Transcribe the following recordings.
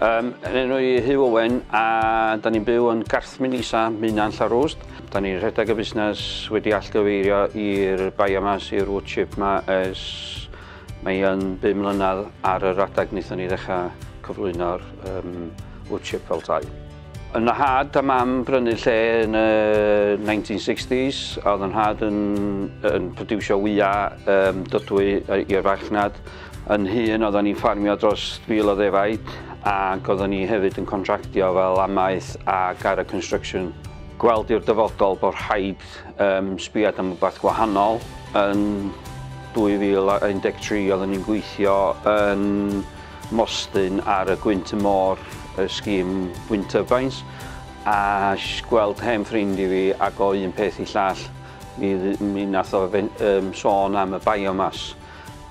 Um, yn enw i Huw Owen a da ni'n byw yn Garthmyn Isa, Mynan Llarwst. Da ni'n rhedeg y busnes wedi allgyfeirio i'r biomass, i'r wood chip ma ers Mae yn bum mlynedd ar yr adeg wnaethon ni ddechrau cyflwyno'r um, wood chip fel tai. Yn y had a mam brynu lle yn y 1960s, a oedd yn had yn, yn producio wyau um, dydwy i'r farchnad. Yn hun, oedden ni'n ffarmio dros fil o ddefaid, ac oedden ni hefyd yn contractio fel amaeth a gara construction. Gweld i'r dyfodol bod rhaid Cymraeg. Yym sbiad am rwbath gwahanol. Yn 2013 oedden ni'n gweithio yn Mostyn ar y gwynt y môr, y scheme wind turbines, a gweld hen ffrind i fi ac o un peth i llall mi, mi nath o fe, um, sôn am y biomass.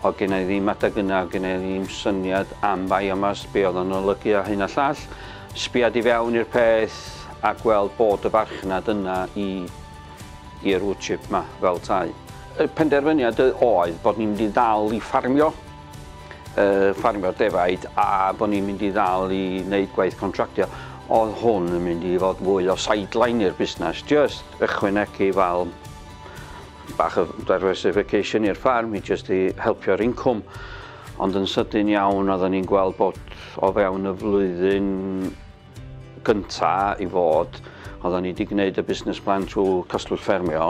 Oedd gen i ddim adeg yna, oedd gen i ddim syniad am biomass, be oedd o'n olygu a hyn a llall. Sbiad i fewn i'r peth a gweld bod y farchnad yna i i'r wood chip 'ma fel tai. Y penderfyniad oedd bod ni'n mynd i ddal i ffarmio, ffarmio'r defaid a bod ni'n mynd i ddal i wneud gwaith contractio. Oedd hwn yn mynd i fod fwy o sideline i'r busnes, jyst ychwanegu fel Bach o diversification i'r ffarm i jyst i helpio'r incwm. Ond yn sydyn iawn oedden ni'n gweld bod o fewn y flwyddyn gynta i fod, oedden ni wedi gwneud y busnes plan trwy Cystlwch Ffermio,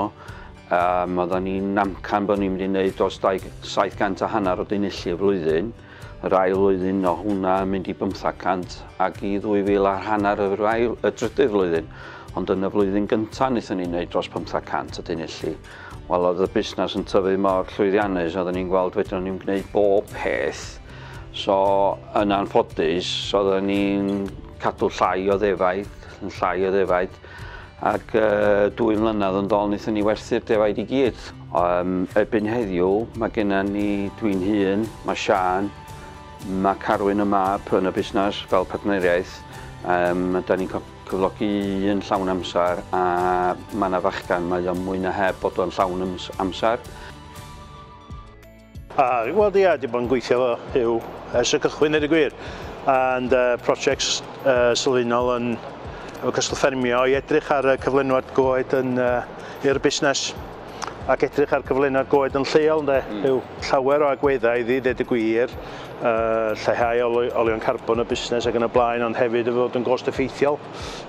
um, oedden ni'n amcan bod ni'n mynd i wneud dros 700 a hanner o dinillu y flwyddyn, Yr ail flwyddyn o hwnna yn mynd i bymthag cant ac i ddwy fil ar hanner yr ail, y drydydd flwyddyn. Ond yn y flwyddyn gyntaf wnaethon ni wneud dros pymthag cant o dunulli. Wel, oedd y busnes yn tyfu mor llwyddiannus, oedden ni'n gweld fedrwn ni'n gwneud bob peth. So, yn anffodus, oedden ni'n cadw llai o ddefaid, yn llai o ddefaid, Ac dwy mlynedd yn ddol wnaethon ni werthu'r defaid i gyd. Um, erbyn heddiw, mae genna ni dwi'n hun, mae Sian, mae Carwyn y mab yn y busnes fel partneriaeth. Um, da ni'n cyflogi un llawn amser a mae yna fachgan, mae o'n mwy na heb bod o'n llawn amser. A, wel ia, di bod yn gweithio fo yw ers y cychwyn neu y gwir. And uh, projects uh, sylfaenol yn efo cyswllt ffermio i edrych ar y cyflenwad goed yn uh, i'r busnes ac edrych ar cyflenwad goed yn lleol ynde, mm. yw llawer o agweddau iddi, ddeud y gwir, uh, lleihau olion carbon y busnes ac yn y blaen, ond hefyd y fod yn gost effeithiol.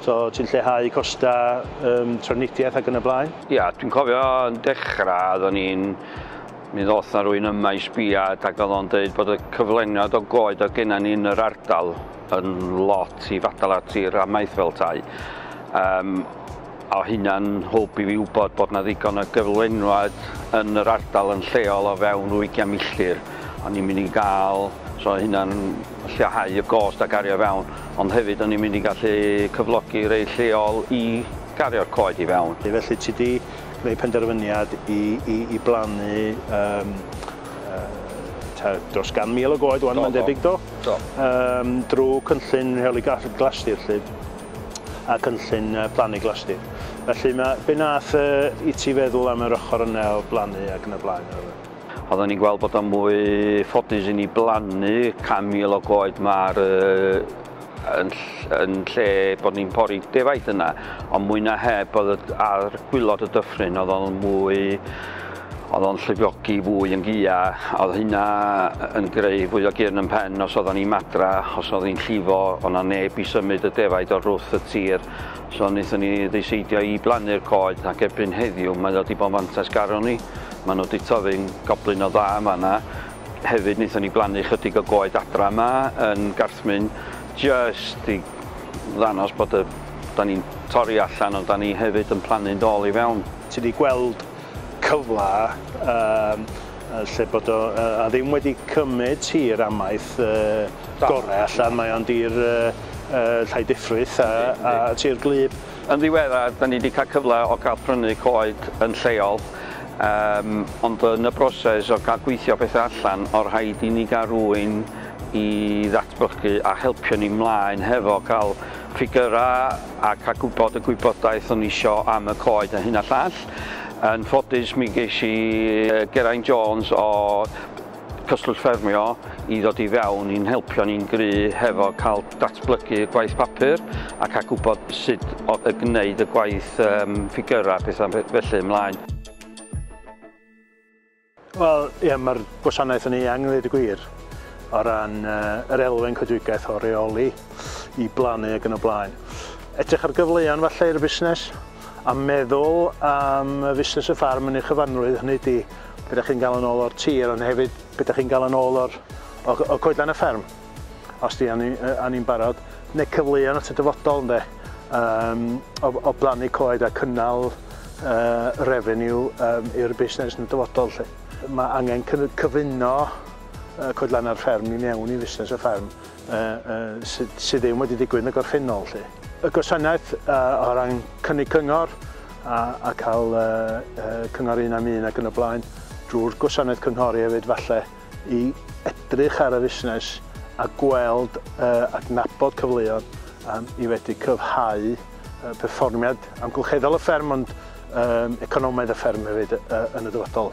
So ti'n lleihau costau um, trafnidiaeth ac yn y blaen. Ia, dwi'n cofio yn dechrau, oeddwn ni'n Mi ddoth 'na rywun yma i sbiad ac oedd o'n deud bod y cyflengiad o goed oedd genna ni yn yr ardal yn lot i fadal at i'r amaeth fel tai. Um, o hynna'n hwb i fi wybod bod 'na ddigon o gyflenwad yn yr ardal yn lleol o fewn rhyw ugian milltir. O'n i'n mynd i gael, so hynna'n lleihau y gost a gario fewn, ond hefyd o'n i'n mynd i gallu cyflogi rei lleol i gario'r coed i fewn. Felly ti 'di gwneud penderfyniad i, i, i blannu um, uh, dros gan mil o goed o'n mae'n debyg do, do. Um, drwy cynllun rheoli glasdir lle a cynllun plannu glasdir. Felly mae be nath uh, i ti feddwl am yr ochr yna o blannu ac yn y blaen? Oedden ni'n gweld bod o'n mwy ffodus i ni blannu 100,000 o goed mae'r uh, Yn yn lle bod ni'n pori defaid yna, ond mwy na heb oedd y, ar gwylod y dyffryn oedd o'n mwy, oedd o'n llifiogi fwy yn gia, oedd hynna yn greu fwy o gyrn yn pen os oeddan ni'n madra, os oedd hi'n llifo, oedd na neb i symud y defaid o'r rwth y tir, so wnaethon ni ddiseidio i blannu'r coed ac erbyn heddiw mae o di bod yn fantais garon ni, mae nhw di tyfu'n goblyn o dda yn fanna, Hefyd wnaethon ni blannu chydig o goed adra yma yn Garthmyn jyst i ddanos bod y... da ni'n torri allan ond da ni hefyd yn plannu'n dôl i fewn. Ti 'di gweld cyfle yym lle bod o yy a ddim wedi cymyd tir amaeth yy gore allan mae o'n dir yy yy Llandifrith a a tir gwlyb. Yn ddiweddar, da ni wedi cael cyfle o gael prynu coed yn lleol, yym, ond yn y broses o gael gweithio pethau allan, o rhaid i ni gael rhywun i ddatblygu a helpio ni mlaen hefo cael ffigyrau a cael gwybod y gwybodaeth o'n ni isio am y coed a hyn a llall. Yn ffodus mi ges i Geraint Jones o Cyswllt ffermio i ddod i fewn i'n helpio ni'n gry hefo cael datblygu y gwaith papur ac a gwybod sut o y gwneud y gwaith yym ffigyrau pethau felly ymlaen. Wel ie mae'r gwasanaeth yn eang ddweud y gwir o ran yy yr elfen coedwigaeth o reoli i blannu ac yn y blaen. Edrych ar gyfleon falle i'r busnes a meddwl am y fusnes y ffarm yn ei chyfanrwydd hynny ydi be dach chi'n gael yn ôl o'r tir ond hefyd be dach chi'n gael yn ôl o'r o o coedlan y fferm os di anni yy anni'n barod neu cyfleon at y dyfodol ynde yym o o blannu coed a cynnal yy revenue yym i'r busnes yn y dyfodol 'lly. Mae angen cyny- cyfuno yy coedlanna'r fferm i mewn i fusnes y fferm. sydd ddim wedi digwydd yn y gorffennol 'lly. Y gwasanaeth o ran cynnig cyngor a cael cyngor un am un ac yn y blaen, drwy'r gwasanaeth cynghori hefyd falle, i edrych ar y fusnes a gweld, adnabod cyfleoedd i fedru cryfhau perfformiad amgylcheddol y fferm ond economaidd y fferm hefyd yn y dyfodol.